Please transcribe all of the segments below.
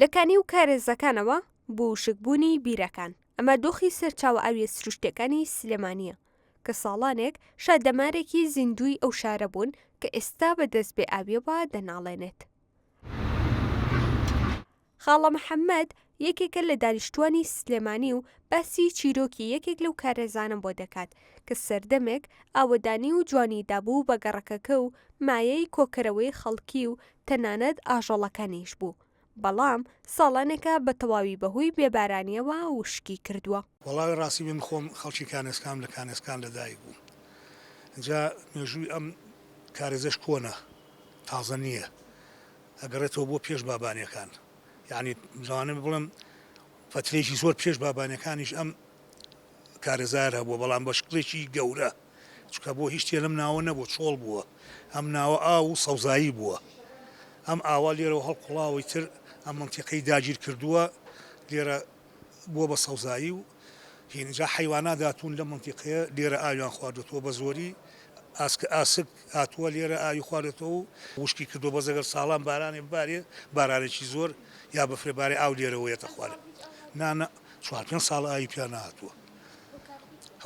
لە کانی و کارێزەکانەوە بۆ وشکبوونی بیرەکان، ئەمە دۆخی سەرچاوە ئاوییە سروشتییەکانی سلێمانییە کە ساڵانێک شادەمارێکی زیندووی ئەو شارە بوون کە ئێستا بە دەست بێ ئاوییەوە دەناڵێنێت. خاڵە محەمەد یەکێکە لە دانیشتووانی سلێمانی و باسی چیرۆکی یەکێک لەو کارێزانەم بۆ دەکات کە سەردەمێک ئاوەدانی و جوانی دابوو بە گەڕەکەکە و مایەی کۆکەرەوەی خەڵکی و تەنانەت ئاژەڵەکانیش بوو بەڵام ساڵانێکە بە تەواوی بەهۆی بێبارانییەوە وشکی کردووە. وەڵاهی ڕاستی من خۆم خەڵکی کانێسکام لە کانێسکان لە دایک بووم جا مێژووی ئەم کارێزەش کۆنە تازە نییە ئەگەڕێتەوە بۆ پێش بابانیەکان یانی لەوانە بڵێم فترەیەکی زۆر پێش بابانیەکانیش ئەم کارەزار هەبووە بەڵام بە شکڵێکی گەورە چکە بۆ هیچ تێ لەم ناوە نەبوو چۆڵ بووە ئەم ناوە ئا و سەوزایی بووە ئەم ئاوا لێرەوە هەڵقڵاوی تر ئەم منتیقەی داگیر کردووە لێرە بووە بە سەوزایی و هینجا حیواناداتون لە منتیقەیە لێرە ئاویان خواردوتووە بە زۆری ئاسک ئاسک هاتووە لێرە ئاوی خواردۆتەوە و وشکی کردووە بەس ئەگەر ساڵان بارانێ ببارێ بارانێکی زۆر یا بەفرێ بارێ ئاو لێرەوە یەتە خوارێ نا نا چوار پێنج ساڵ ئاوی پیا نهاتووە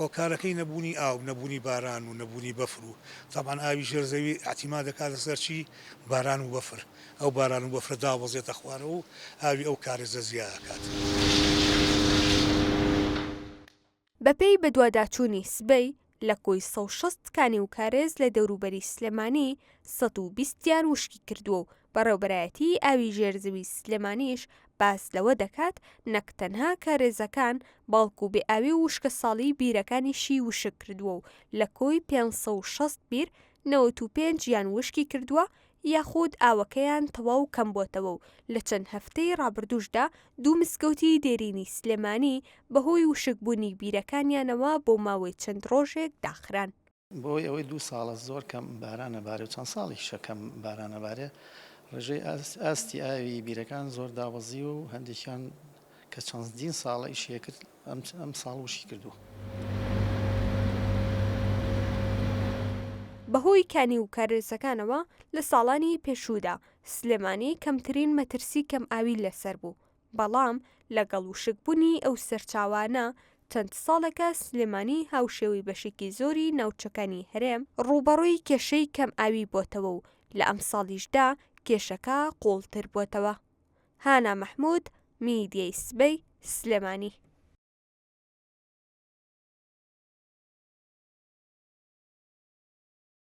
هۆکارەکەی نەبوونی ئاو نەبوونی باران و نەبوونی بەفر و تامان ئاوی ژێر زەوی ئەتیما دەکاتە سەرچی باران و بەفر ئەو باران و بەفرە داوەزێتە خوارەوە و ئاوی ئەو کارێزە زیاکات. بەپێی بەدواداچوونی سبەی، لە کۆی سەد و شەست کانی و کارێز لە دەوروبەری سلێمانی، سەد و بیست یان وشکی کردووە و بەڕێوەبەرایەتیی ئاوی ژێر زەوی سلێمانیش باس لەوە دەکات، نەک تەنها کارێزەکان، بەڵکو بێئاوی و وشکەساڵیی بیرەکانیشی وشک کردووە و لە کۆی پێنج سەد و شەست بیر، نەوەت و پێنج یان وشکی کردووە یاخود ئاوەکەیان تەواو کەمبۆتەوە و لە چەند هەفتەی ڕابردووشدا دوو مسکەوتی دێرینی سلێمانی بەهۆی وشک بوونی بیرەکانیانەوە بۆ ماوەی چەند ڕۆژێک داخران. بەهۆی ئەوەی دوو ساڵە زۆر کەم باران ئەبارێ و چەند ساڵێکیشە کەم باران ئەبارێ ڕێژەی ئاستی ئاوی بیرەکان زۆر دابەزیوە و هەندێکیان کە چەندین ساڵە ئیشیەکرد ئەم ساڵ وشکی کردووە. بەهۆی کانی و کارێسەکانەوە لە ساڵانی پێشوودا سلێمانی کەمترین مەترسی کەم ئاوی لەسەر بوو، بەڵام لەگەڵ وشک بونی ئەو سەرچاوانە چەند ساڵێکە سلێمانی هاوشێوەی بەشێکی زۆری ناوچەکانی هەرێم ڕووبەڕووی کێشەی کەم ئاوی بۆتەوە و لە ئەمساڵیشدا کێشەکە قوڵتر بۆتەوە. هانا مەحمود، میدیەی سبەی سلێمانی.